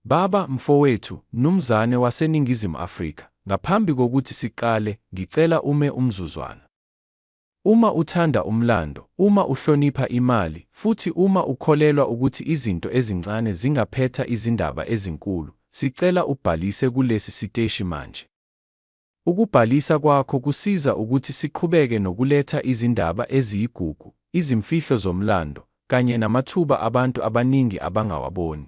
Baba, mfowethu, mnumzane waseNingizimu Afrika, ngaphambi kokuthi siqale, ngicela ume umzuzwana. Uma uthanda umlando, uma uhlonipha imali, futhi uma ukholelwa ukuthi izinto ezincane zingaphetha izindaba ezinkulu, sicela ubhalise kulesi siteshi manje. Ukubhalisa kwakho kusiza ukuthi siqhubeke nokuletha izindaba eziyigugu, izimfihlo zomlando, kanye namathuba abantu abaningi abangawaboni.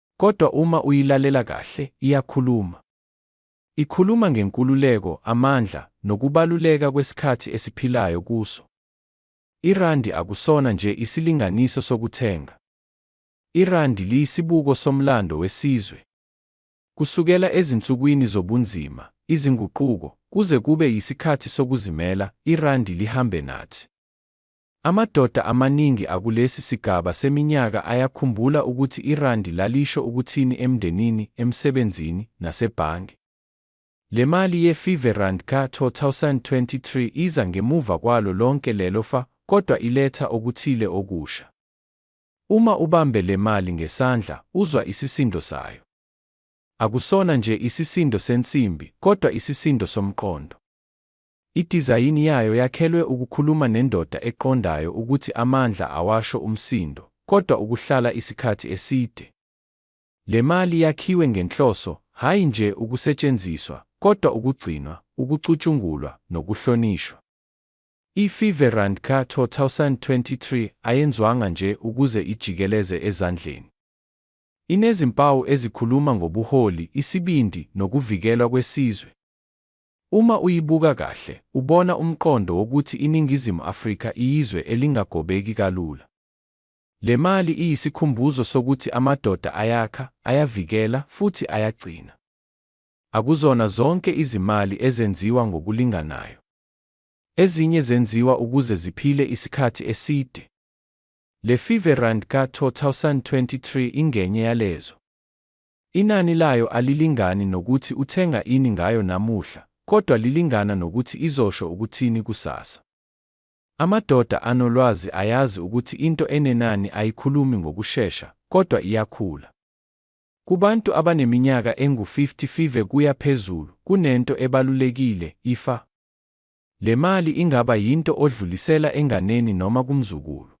Kodwa uma uyilalela kahle, iyakhuluma. Ikhuluma ngenkululeko, amandla, nokubaluleka kwesikhathi esiphilayo kuso. Irandi akusona nje isilinganiso sokuthenga. Irandi liyisibuko somlando wesizwe. Kusukela ezinsukwini zobunzima, izinguquko, kuze kube yisikhathi sokuzimela, irandi lihambe nathi. Amadoda amaningi akulesi sigaba seminyaka ayakhumbula ukuthi irandi lalisho ukuthini emndenini, emsebenzini, nasebhange. Le mali ye-Five Rand ka-2023 iza ngemuva kwalo lonke lelo fa kodwa iletha okuthile okusha. Uma ubambe le mali ngesandla, uzwa isisindo sayo. Akusona nje isisindo sensimbi kodwa isisindo somqondo. Idizayini yayo yakhelwe ukukhuluma nendoda eqondayo ukuthi amandla awasho umsindo, kodwa ukuhlala isikhathi eside. Le mali yakhiwe ngenhloso, hhayi nje ukusetshenziswa, kodwa ukugcinwa, ukucutshungulwa, nokuhlonishwa. I-Five Rand ka 2023 ayenzwanga nje ukuze ijikeleze ezandleni. Inezimpawu ezikhuluma ngobuholi, isibindi, nokuvikelwa kwesizwe. Uma uyibuka kahle, ubona umqondo wokuthi iNingizimu Afrika iyizwe elingagobeki kalula. Le mali iyisikhumbuzo sokuthi amadoda ayakha, ayavikela, futhi ayagcina. Akuzona zonke izimali ezenziwa ngokulinganayo. Ezinye zenziwa ukuze ziphile isikhathi eside. Le Five Rand ka-2023 ingenye yalezo. Inani layo alilingani nokuthi uthenga ini ngayo namuhla, kodwa lilingana nokuthi izosho ukuthini kusasa. Amadoda anolwazi ayazi ukuthi into enenani ayikhulumi ngokushesha, kodwa iyakhula. Kubantu abaneminyaka engu-55 kuya phezulu, kunento ebalulekile, ifa. Le mali ingaba yinto odlulisela enganeni noma kumzukulu.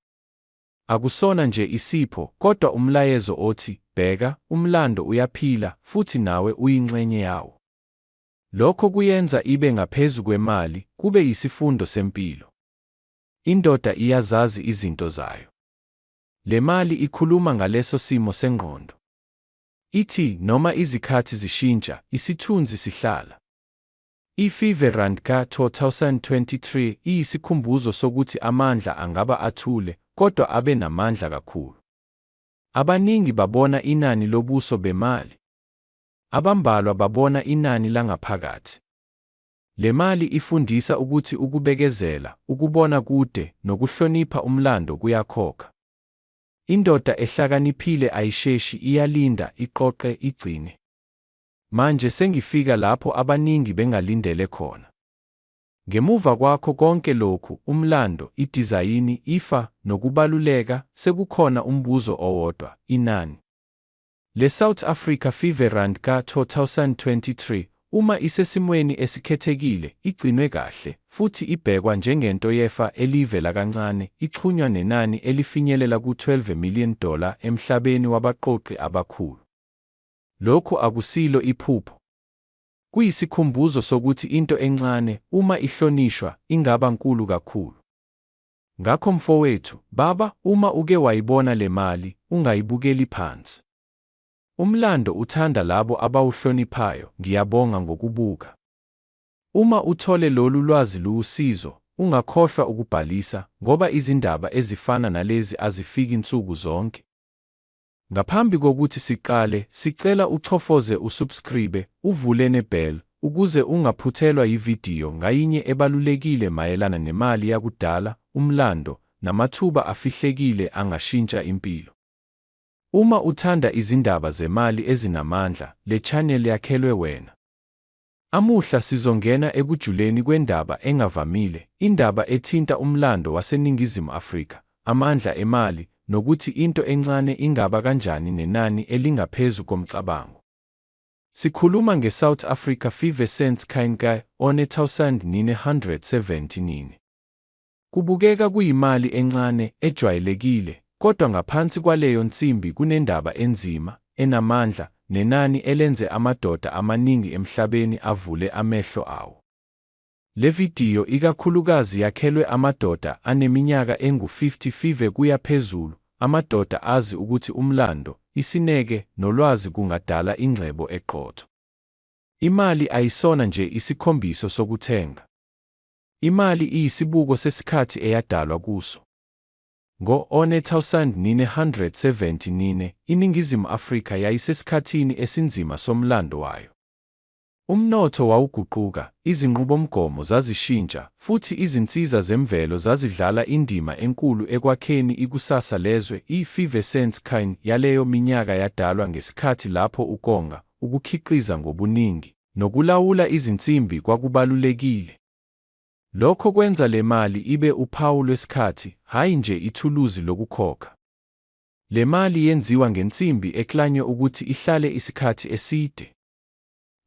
Akusona nje isipho, kodwa umlayezo othi, Bheka, umlando uyaphila, futhi nawe uyingxenye yawo. Lokho kuyenza ibe ngaphezu kwemali, kube yisifundo sempilo. Indoda iyazazi izinto zayo. Le mali ikhuluma ngaleso simo sengqondo. Ithi, Noma izikhathi zishintsha, isithunzi sihlala. I-FIFA Rand ka 2023 iyisikhumbuzo sokuthi amandla angaba athule, kodwa abe namandla kakhulu. Abaningi babona inani lobuso bemali. Abambalwa babona inani langaphakathi. Le mali ifundisa ukuthi ukubekezela, ukubona kude, nokuhlonipha umlando kuyakhokha. Indoda ehlakaniphile ayisheshi, iyalinda, iqoqe, igcine. Manje sengifika lapho abaningi bengalindele khona. Ngemuva kwakho konke lokhu, umlando, idizayini, ifa, nokubaluleka, sekukhona umbuzo owodwa, inani. LeSouth Africa Fever Rand ka-2023, uma isesimweni esikhethekile, igcinwe kahle, futhi ibhekwa njengento yefa eliyivela kancane, ixhunywa nenani elifinyelela ku-12 million dollar emhlabeni wabaqoqi abakhulu. Lokhu akusilo iphupho. Kuyisikhumbuzo sokuthi into encane, uma ihlonishwa, ingaba nkulu kakhulu. Ngakho mfowethu, baba, uma uke wayibona le mali, ungayibukeli phansi. Umlando uthanda labo abawuhloniphayo, ngiyabonga ngokubuka. Uma uthole lolu lwazi luwusizo, ungakhohlwa ukubhalisa, ngoba izindaba ezifana nalezi azifiki nsuku zonke. Ngaphambi kokuthi siqale, sicela uchofoze usubscribe, uvule nebell, ukuze ungaphuthelwa yividiyo ngayinye ebalulekile mayelana nemali yakudala, umlando, namathuba afihlekile angashintsha impilo. Uma uthanda izindaba zemali ezinamandla, le channel yakhelwe wena. Amuhla sizongena ekujuleni kwendaba engavamile, indaba ethinta umlando waseNingizimu Afrika, amandla emali, nokuthi into encane ingaba kanjani nenani elingaphezu komcabango. Sikhuluma ngeSouth Africa Fever Since 1979. Kubukeka kuyimali encane, ejwayelekile, kodwa ngaphansi kwaleyo nsimbi kunendaba enzima, enamandla, nenani elenze amadoda amaningi emhlabeni avule amehlo awo. Le vidiyo ikakhulukazi yakhelwe amadoda aneminyaka engu-55 kuya phezulu, amadoda azi ukuthi umlando, isineke, nolwazi kungadala ingcebo eqotho. Imali ayisona nje isikhombiso sokuthenga. Imali iyisibuko sesikhathi eyadalwa kuso. Ngo-1974, iNingizimu Afrika yayisesikhathini esinzima somlando wayo. Umnotho wawuguquka, izinqubomgomo zazishintsha, futhi izinsiza zemvelo zazidlala indima enkulu ekwakheni ikusasa lezwe. I-effervescence kind yaleyo minyaka yadalwa ngesikhathi lapho ukonga, ukukhiqiza ngobuningi, nokulawula izinsimbi kwakubalulekile. Lokho kwenza le mali ibe uphawu lwesikhathi, hhayi nje ithuluzi lokukhokha. Le mali yenziwa ngensimbi eklanywe ukuthi ihlale isikhathi eside.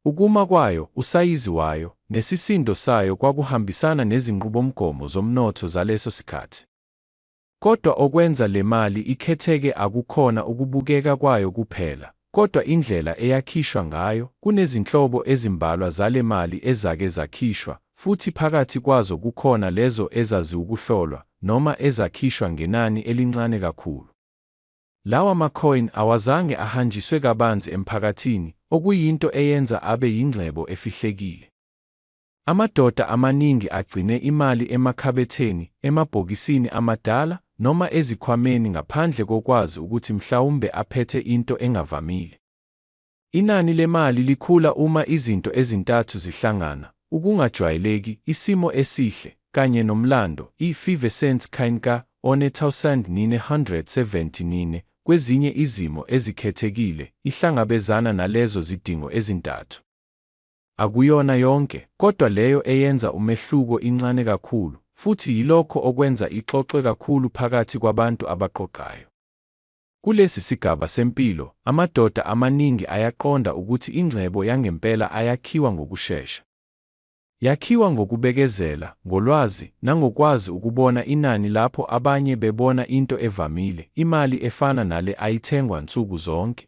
Ukuma kwayo, usayizi wayo, nesisindo sayo kwakuhambisana nezinqubomgomo zomnotho zaleso sikhathi. Kodwa okwenza le mali ikhetheke akukhona ukubukeka kwayo kuphela, kodwa indlela eyakhishwa ngayo. Kunezinhlobo ezimbalwa zale mali ezake zakhishwa, futhi phakathi kwazo kukhona lezo ezaziwukuhlolwa, noma ezakhishwa ngenani elincane kakhulu. Lawa ma-coin awazange ahanjiswe kabanzi emphakathini, okuyinto eyenza abe yingcebo efihlekile. Amadoda amaningi agcine imali emakhabetheni, emabhokisini amadala, noma ezikhwameni ngaphandle kokwazi ukuthi mhlawumbe aphethe into engavamile. Inani lemali likhula uma izinto ezintathu zihlangana, ukungajwayeleki, isimo esihle, kanye nomlando, i-effervescence kain ka 1979, kwezinye izimo ezikhethekile, ihlangabezana nalezo zidingo ezintathu. Akuyona yonke, kodwa leyo eyenza umehluko incane kakhulu, futhi yilokho okwenza ixoxwe kakhulu phakathi kwabantu abaqoqayo. Kulesi sigaba sempilo, amadoda amaningi ayaqonda ukuthi ingcebo yangempela ayakhiwa ngokushesha. Yakhiwa ngokubekezela, ngolwazi, nangokwazi ukubona inani lapho abanye bebona into evamile, imali efana nale ayithengwa nsuku zonke.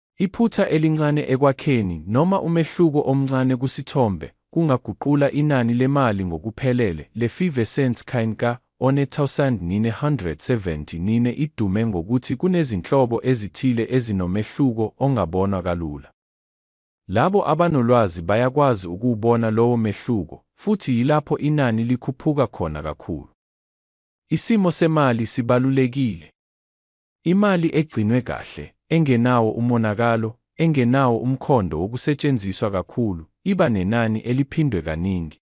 Iphutha elincane ekwakheni noma umehluko omncane kusithombe kungaguqula inani lemali ngokuphelele. Le Five Cents Kind ka 1979 idume ngokuthi kunezinhlobo ezithile ezinomehluko ongabonwa kalula. Labo abanolwazi bayakwazi ukuwubona lowo mehluko, futhi yilapho inani likhuphuka khona kakhulu. Isimo semali sibalulekile. Imali egcinwe kahle, engenawo umonakalo, engenawo umkhondo wokusetshenziswa kakhulu, iba nenani eliphindwe kaningi.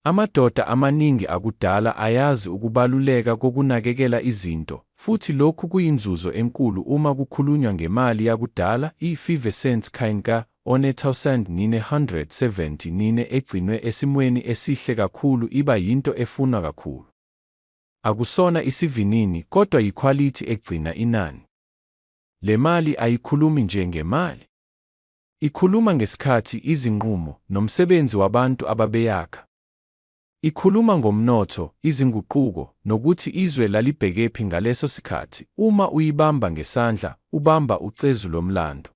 Amadoda amaningi akudala ayazi ukubaluleka kokunakekela izinto, futhi lokhu kuyinzuzo enkulu uma kukhulunywa ngemali yakudala, i-five cents coin ka one-thousand-nine-hundred-seventy-nine egcinwe esimweni esihle kakhulu iba yinto efunwa kakhulu. Akusona isivinini kodwa yikhwalithi egcina inani. Le mali ayikhulumi nje ngemali. Ikhuluma ngesikhathi, izinqumo, nomsebenzi wabantu ababeyakha. Ikhuluma ngomnotho, izinguquko, nokuthi izwe lalibhekephi ngaleso sikhathi. Uma uyibamba ngesandla, ubamba ucezu lomlando.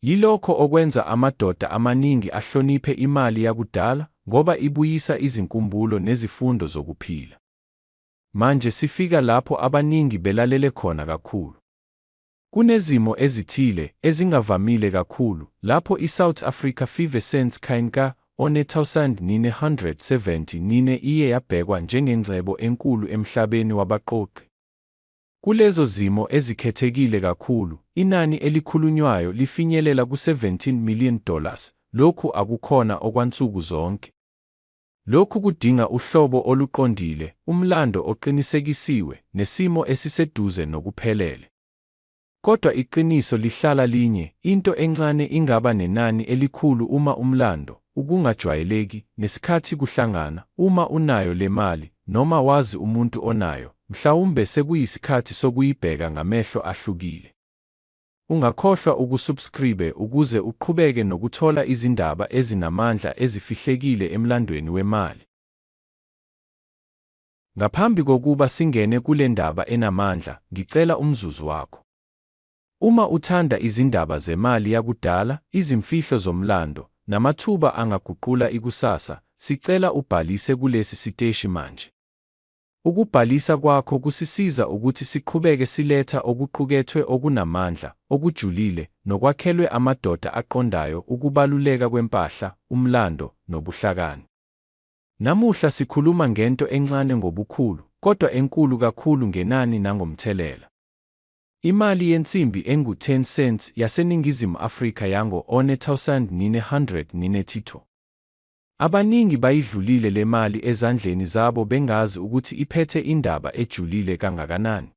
Yilokho okwenza amadoda amaningi ahloniphe imali yakudala ngoba ibuyisa izinkumbulo nezifundo zokuphila. Manje sifika lapho abaningi belalele khona kakhulu. Kunezimo ezithile, ezingavamile kakhulu, lapho iSouth Africa Five Cents Coin ka 1974 iye yabhekwa njengengcebo enkulu emhlabeni wabaqoqi. Kulezo zimo ezikhethekile kakhulu, inani elikhulunywayo lifinyelela ku-17 million dollars, lokhu akukhona okwansuku zonke. Lokhu kudinga uhlobo oluqondile, umlando oqinisekisiwe, nesimo esiseduze nokuphelele. Kodwa iqiniso lihlala linye, into encane ingaba nenani elikhulu uma umlando, ukungajwayeleki, nesikhathi kuhlangana, uma unayo le mali, noma wazi umuntu onayo, mhlawumbe sekuyisikhathi sokuyibheka ngamehlo ahlukile. Ungakhohlwa ukusubscribe ukuze uqhubeke nokuthola izindaba ezinamandla ezifihlekile emlandweni wemali. Ngaphambi kokuba singene kule ndaba enamandla, ngicela umzuzu wakho. Uma uthanda izindaba zemali yakudala, izimfihlo zomlando, namathuba angaguqula ikusasa, sicela ubhalise kulesi siteshi manje. Ukubhalisa kwakho kusisiza ukuthi siqhubeke siletha okuqukethwe okunamandla, okujulile, nokwakhelwe amadoda aqondayo ukubaluleka kwempahla, umlando, nobuhlakani. Namuhla sikhuluma ngento encane ngobukhulu, kodwa enkulu kakhulu ngenani nangomthelela. Imali yensimbi engu-10 cents yaseNingizimu Afrika yango-1992. Abaningi bayidlulile le mali ezandleni zabo bengazi ukuthi iphethe indaba ejulile kangakanani.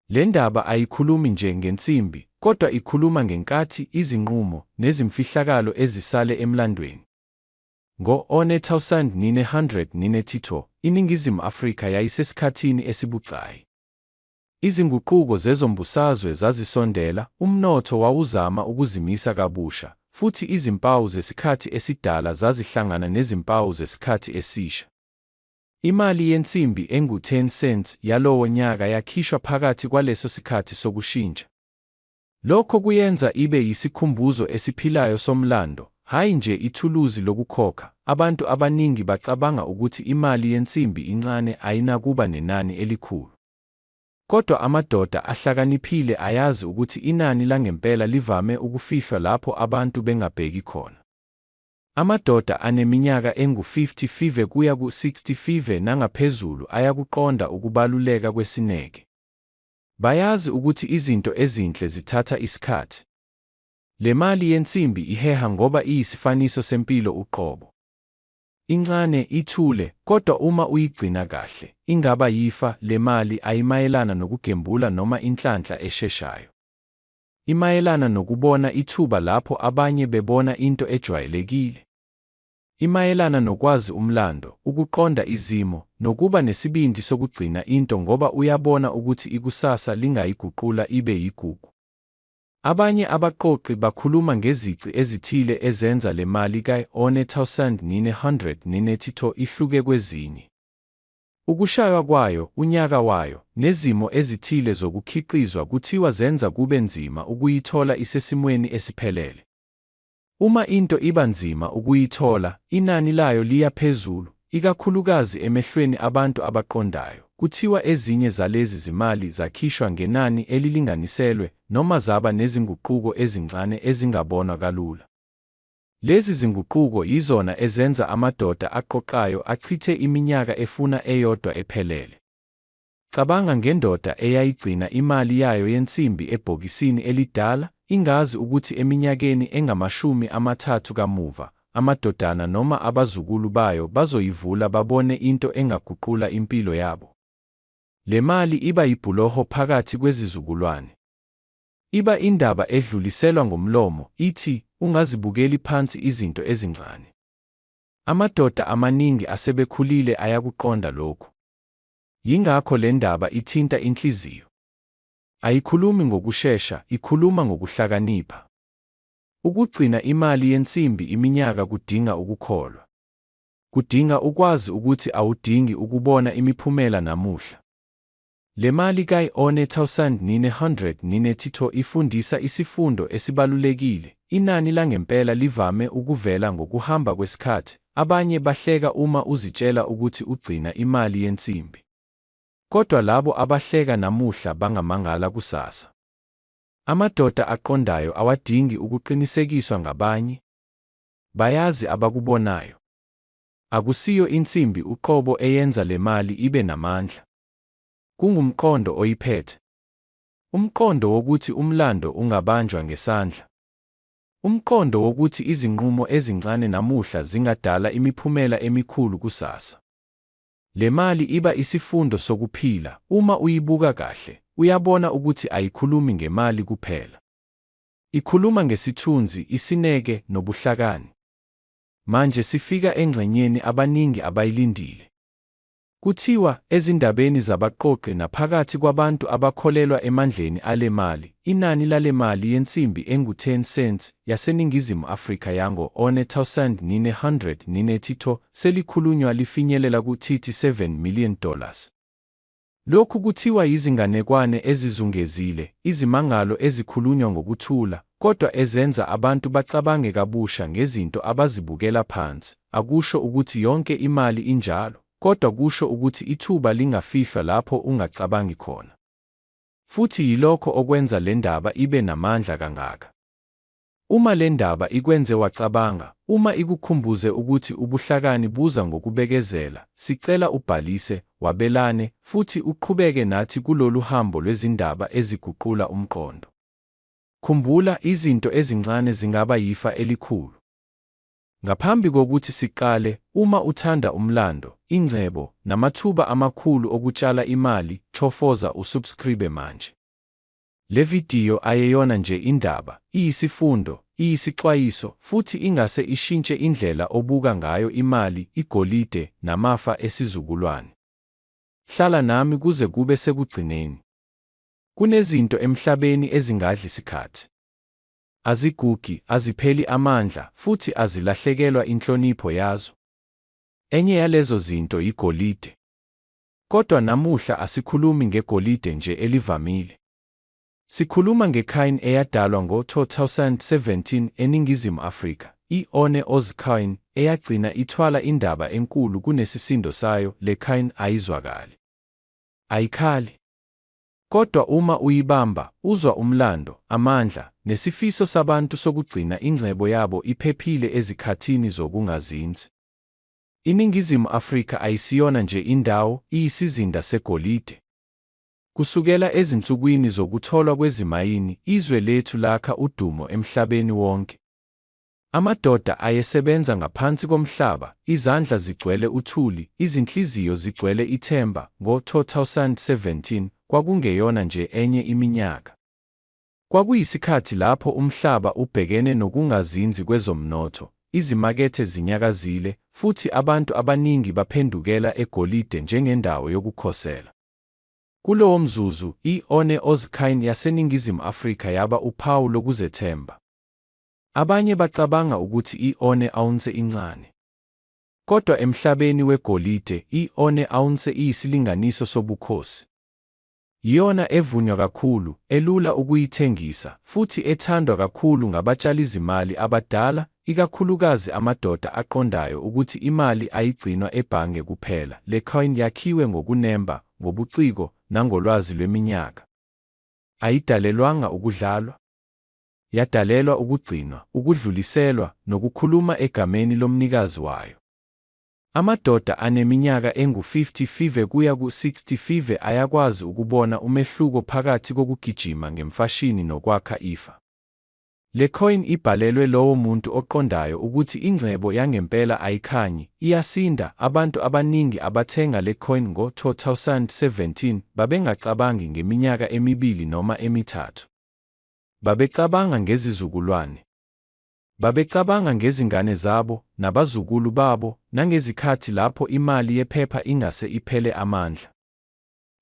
Le ndaba ayikhulumi nje ngensimbi, kodwa ikhuluma ngenkathi, izinqumo, nezimfihlakalo ezisale emlandweni. Ngo-1932, iNingizimu Afrika yayisesikhathini esibucayi. Izinguquko zezombusazwe zazisondela, umnotho wawuzama ukuzimisa kabusha, futhi izimpawu zesikhathi esidala zazihlangana nezimpawu zesikhathi esisha. Imali yensimbi engu-10 cents yalowo nyaka yakhishwa phakathi kwaleso sikhathi sokushintsha. Lokho kuyenza ibe yisikhumbuzo esiphilayo somlando, hhayi nje ithuluzi lokukhokha. Abantu abaningi bacabanga ukuthi imali yensimbi incane ayinakuba nenani elikhulu. Kodwa amadoda ahlakaniphile ayazi ukuthi inani langempela livame ukufihlwa lapho abantu bengabheki khona. Amadoda aneminyaka engu-55 kuya ku-65 nangaphezulu ayakuqonda ukubaluleka kwesineke. Bayazi ukuthi izinto ezinhle zithatha isikhathi. Le mali yensimbi iheha ngoba iyisifaniso sempilo uqobo. Incane, ithule, kodwa uma uyigcina kahle, ingaba yifa. Le mali ayimayelana nokugembula noma inhlanhla esheshayo. Imayelana nokubona ithuba lapho abanye bebona into ejwayelekile. Imayelana nokwazi umlando, ukuqonda izimo, nokuba nesibindi sokugcina into ngoba uyabona ukuthi ikusasa lingayiguqula ibe yigugu. Abanye abaqoqi bakhuluma ngezici ezithile ezenza le mali ka-R1,992 ihluke kwezinye, ukushaywa kwayo, unyaka wayo, nezimo ezithile zokukhiqizwa kuthiwa zenza kube nzima ukuyithola isesimweni esiphelele. Uma into iba nzima ukuyithola, inani layo liya phezulu, ikakhulukazi emehlweni abantu abaqondayo. Kuthiwa ezinye zalezi zimali zakhishwa ngenani elilinganiselwe noma zaba nezinguquko ezincane ezingabonwa kalula. Lezi zinguquko yizona ezenza amadoda aqoqayo achithe iminyaka efuna eyodwa ephelele. Cabanga ngendoda eyayigcina imali yayo yensimbi ebhokisini elidala, ingazi ukuthi eminyakeni engamashumi amathathu kamuva, amadodana noma abazukulu bayo bazoyivula babone into engaguqula impilo yabo. Le mali iba yibhuloho phakathi kwezizukulwane. Iba indaba edluliselwa ngomlomo, ithi, Ungazibukeli phansi izinto ezincane. Amadoda amaningi asebekhulile ayakuqonda lokhu. Yingakho le ndaba ithinta inhliziyo. Ayikhulumi ngokushesha, ikhuluma ngokuhlakanipha. Ukugcina imali yensimbi iminyaka kudinga ukukholwa. Kudinga ukwazi ukuthi awudingi ukubona imiphumela namuhla. Le mali kayi-1,990 ifundisa isifundo esibalulekile, inani langempela livame ukuvela ngokuhamba kwesikhathi, Abanye bahleka uma uzitshela ukuthi ugcina imali yensimbi. Kodwa labo abahleka namuhla bangamangala kusasa. Amadoda aqondayo awadingi ukuqinisekiswa ngabanye. Bayazi abakubonayo. Akusiyo insimbi uqobo eyenza le mali ibe namandla. Kungumqondo oyiphethe. Umqondo wokuthi umlando ungabanjwa ngesandla. Umqondo wokuthi izinqumo ezincane namuhla zingadala imiphumela emikhulu kusasa. Le mali iba isifundo sokuphila, uma uyibuka kahle, uyabona ukuthi ayikhulumi ngemali kuphela. Ikhuluma ngesithunzi, isineke, nobuhlakani. Manje sifika engxenyeni abaningi abayilindile. Kuthiwa, ezindabeni zabaqoqi naphakathi kwabantu abakholelwa emandleni ale mali, inani lale mali yensimbi engu-10 cents yaseNingizimu Afrika yango-1982 selikhulunywa lifinyelela ku-37 million dollars. Lokhu kuthiwa yizinganekwane ezizungezile, izimangalo ezikhulunywa ngokuthula, kodwa ezenza abantu bacabange kabusha ngezinto abazibukela phansi. akusho ukuthi yonke imali injalo, kodwa kusho ukuthi ithuba lingafihlwa lapho ungacabangi khona. Futhi yilokho okwenza le ndaba ibe namandla kangaka. Uma le ndaba ikwenze wacabanga, uma ikukhumbuze ukuthi ubuhlakani buza ngokubekezela, sicela ubhalise, wabelane, futhi uqhubeke nathi kulolu hambo lwezindaba eziguqula umqondo. Khumbula, izinto ezincane zingaba yifa elikhulu. Ngaphambi kokuthi siqale, uma uthanda umlando, ingcebo, namathuba amakhulu okutshala imali, chofoza usubscribe manje. Le vidiyo ayeyona nje indaba, iyisifundo, iyisixwayiso, futhi ingase ishintshe indlela obuka ngayo imali, igolide, namafa esizukulwane. Hlala nami kuze kube sekugcineni. Kunezinto emhlabeni ezingadli sikhathi. Azigugi, azipheli amandla, futhi azilahlekelwa inhlonipho yazo. Enye yalezo zinto yigolide. Kodwa namuhla asikhulumi ngegolide nje elivamile. Sikhuluma ngecoin eyadalwa ngo-2017 eNingizimu Afrika, i-One Oz Coin, eyagcina ithwala indaba enkulu kunesisindo sayo, le coin ayizwakali. Ayikhali. Kodwa uma uyibamba, uzwa umlando, amandla, nesifiso sabantu sokugcina ingcebo yabo iphephile ezikhathini zokungazinzi. INingizimu Afrika ayisiyona nje indawo, iyisizinda segolide. Kusukela ezinsukwini zokutholwa kwezimayini, izwe lethu lakha udumo emhlabeni wonke. Amadoda ayesebenza ngaphansi komhlaba, izandla zigcwele uthuli, izinhliziyo zigcwele ithemba, ngo-2017, kwakungeyona nje enye iminyaka. Kwakuyisikhathi lapho umhlaba ubhekene nokungazinzi kwezomnotho, izimakethe zinyakazile, futhi abantu abaningi baphendukela egolide njengendawo yokukhosela. Kulowomzuzu, i-One Ozkine yaseNingizimu Afrika yaba uphawu lokuzethemba. Abanye bacabanga ukuthi i-one ounce incane. Kodwa emhlabeni wegolide, i-one ounce iyisilinganiso sobukhosi. Yiyona evunywa kakhulu, elula ukuyithengisa, futhi ethandwa kakhulu ngabatshalizimali abadala, ikakhulukazi amadoda aqondayo ukuthi imali ayigcinwa ebhange kuphela. Le coin yakhiwe ngokunemba, ngobuciko, nangolwazi lweminyaka. Ayidalelwanga ukudlalwa. yadalelwa ukugcinwa, ukudluliselwa, nokukhuluma egameni lomnikazi wayo. Amadoda aneminyaka engu-50 kuya ku-60 ayakwazi ukubona umehluko phakathi kokugijima ngemfashini nokwakha ifa. Le coin ibhalelwe lowo muntu oqondayo ukuthi ingcebo yangempela ayikhanyi, iyasinda. Abantu abaningi abathenga le coin ngo-2017 babengacabangi ngeminyaka emibili noma emithathu. Babecabanga ngezizukulwane. Babecabanga ngezingane zabo, nabazukulu babo, nangezikhathi lapho imali yephepha ingase iphele amandla.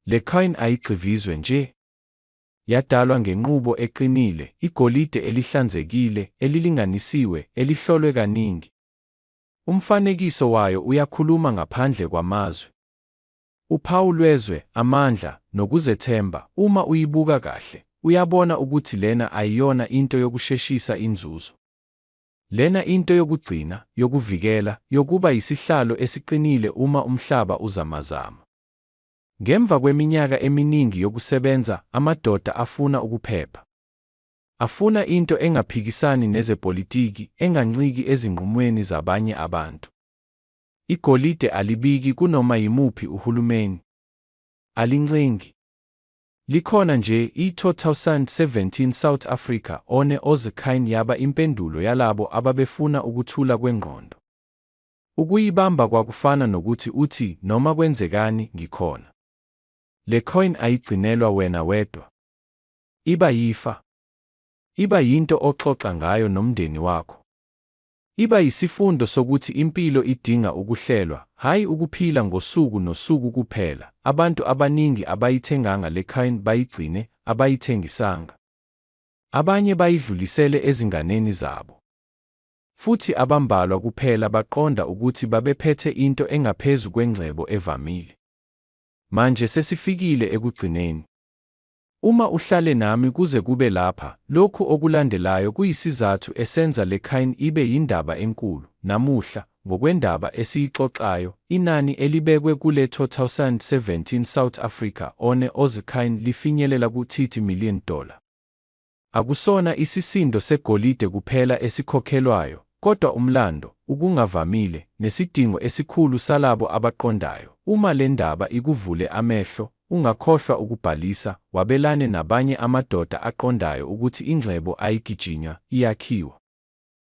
Le coin ayigxivizwe nje. Yadalwa ngenqubo eqinile, igolide elihlanzekile, elilinganisiwe, elihlolwe kaningi. Umfanekiso wayo uyakhuluma ngaphandle kwamazwi. Uphawu lwezwe, amandla, nokuzethemba, uma uyibuka kahle, uyabona ukuthi lena ayiyona into yokusheshisa inzuzo. Lena into yokugcina, yokuvikela, yokuba yisihlalo esiqinile uma umhlaba uzamazama. Ngemva kweminyaka eminingi yokusebenza, amadoda afuna ukuphepha. Afuna into engaphikisani nezepolitiki, enganciki ezinqumweni zabanye abantu. Igolide alibiki kunoma yimuphi uhulumeni. Alincengi. Likhona nje, i-2017 South Africa, one Ozekine yaba impendulo yalabo ababefuna ukuthula kwengqondo. Ukuyibamba kwakufana nokuthi uthi noma kwenzekani, ngikhona. Le coin ayigcinelwa wena wedwa. Iba yifa. Iba yinto oxoxa ngayo nomndeni wakho. Iba yisifundo sokuthi impilo idinga ukuhlelwa, hhayi ukuphila ngosuku nosuku kuphela. Abantu abaningi abayithenganga le coin bayigcine, abayithengisanga. Abanye bayidlulisele ezinganeni zabo. Futhi abambalwa kuphela baqonda ukuthi babephethe into engaphezu kwengcebo evamile. Manje sesifikile ekugcineni. Uma uhlale nami kuze kube lapha, lokhu okulandelayo kuyisizathu esenza le coin ibe yindaba enkulu. Namuhla, ngokwendaba esiyixoxayo, inani elibekwe kule 2017 South Africa One Oz Coin lifinyelela ku-30 million dollar. Akusona isisindo segolide kuphela esikhokhelwayo, kodwa umlando, ukungavamile, nesidingo esikhulu salabo abaqondayo. Uma le ndaba ikuvule amehlo, ungakhohlwa ukubhalisa, wabelane nabanye amadoda aqondayo ukuthi ingcebo ayigijinywa, iyakhiwa.